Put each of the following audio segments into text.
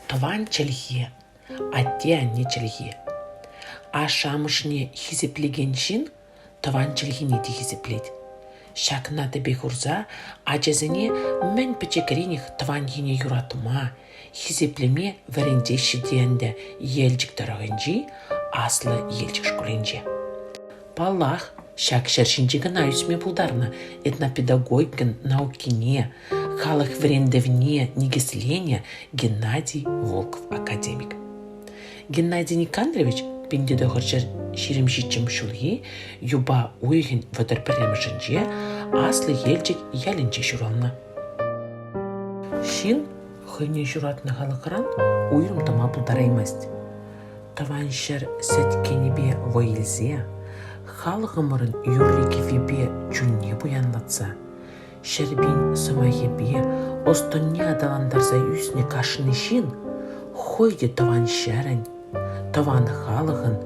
Тӑван чӗлхе, атте-анне чӗлхи. Ашшӗ-амӑшне хисеплекен ҫын тӑван чӗлхене те хисеплет. Ҫакна тӗпе хурса ачасене мӗн пӗчӗкренех тӑван ене юратма, хисеплеме вӗрентеҫҫӗ те ӗнтӗ Елчӗк тӑрӑхӗнчи Аслӑ Елчӗк шкулӗнче. Паллах, ҫак ҫӗр ҫинче кӑна ӳсме пултарнӑ. Этнопедагогикӑн наукине, халӑх вӗрентӗвне никӗсленӗ Геннадий Волков академик. Геннадий Никандрович пин тӑхӑрҫӗр ҫирӗм ҫиччӗм ҫулхи юпа уйӑхӗн вӑтӑр пӗрремӗшӗнче Аслӑ Елчӗк ялӗнче ҫуралнӑ. Ҫын хӑйне ҫуратнӑ халӑхран уйрӑм тӑма пултараймасть. тӑван ҫӗр сӗткенӗпе вӑй илсе, халӑхӑмӑрӑн юрри-кӗввипе чунне пуянлатса, ҫӗрпин сӑмахӗпе ӑс-тӑнне аталантарса ӳснӗ кашни ҫын хӑй те тӑван ҫӗрӗн, тӑван халӑхӑн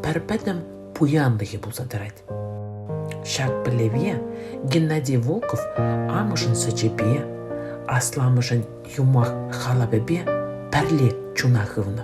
пӗр пӗтӗм пуянлӑхӗ пулса тӑрать. Ҫак пӗлӗве Геннадий Волков амӑшӗн сӗчӗпе, асламӑшӗн юмах халапӗпе пӗрле чуна хывнӑ.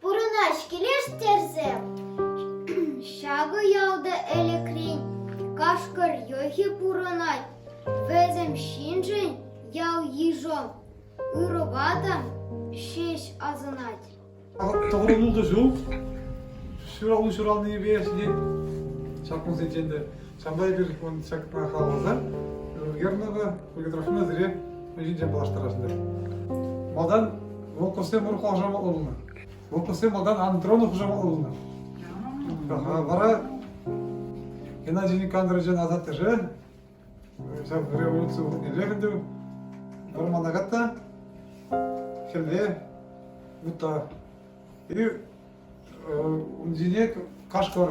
Пурӑнать килеш терсем. Ҫакӑ ялта ӗлӗкрен кашкӑр йӑхӗ пурӑнать. Вӗсем ҫыншӑн ял-йышӑм, ырӑ-ватӑм ҫеҫ асӑнать. Таврӑну та ҫук. Ҫуралу ҫуралнипе ҫитет. Ҫак кунсенчен те Ҫавӑнпа эпир ман ҫакна халалласа Гернова полиграфина сире ҫинчен паллаштарасшӑн. Малтан волковсем пур хушамат улнӑ. Волковсем малтан Антронов хушамат улнӑ. Вара Геннадий Никандровичӑн асаттеше ҫав революци илех ӗнтӗ вӑрмана катта хӗлле утта и ун ҫине кашкӑр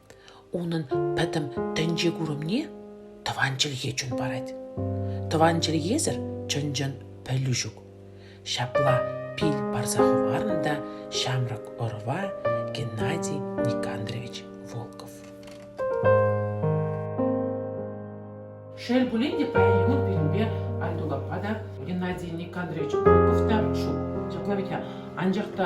Унӑн пӗтӗм тӗнче-курӑмне тӑван чӗлхе чун парать. Тӑван чӗлхесӗр чӑн-чӑн пӗлӳ ҫук. Ҫапла пил парса хӑварнӑ та ҫамрӑк ӑрӑва Геннадий Никандрович Волков. Шел пулин те, паян пирӗнпе Айтукапа та Геннадий Никандрович Волков та ҫук. Ҫапла витя. Анчах та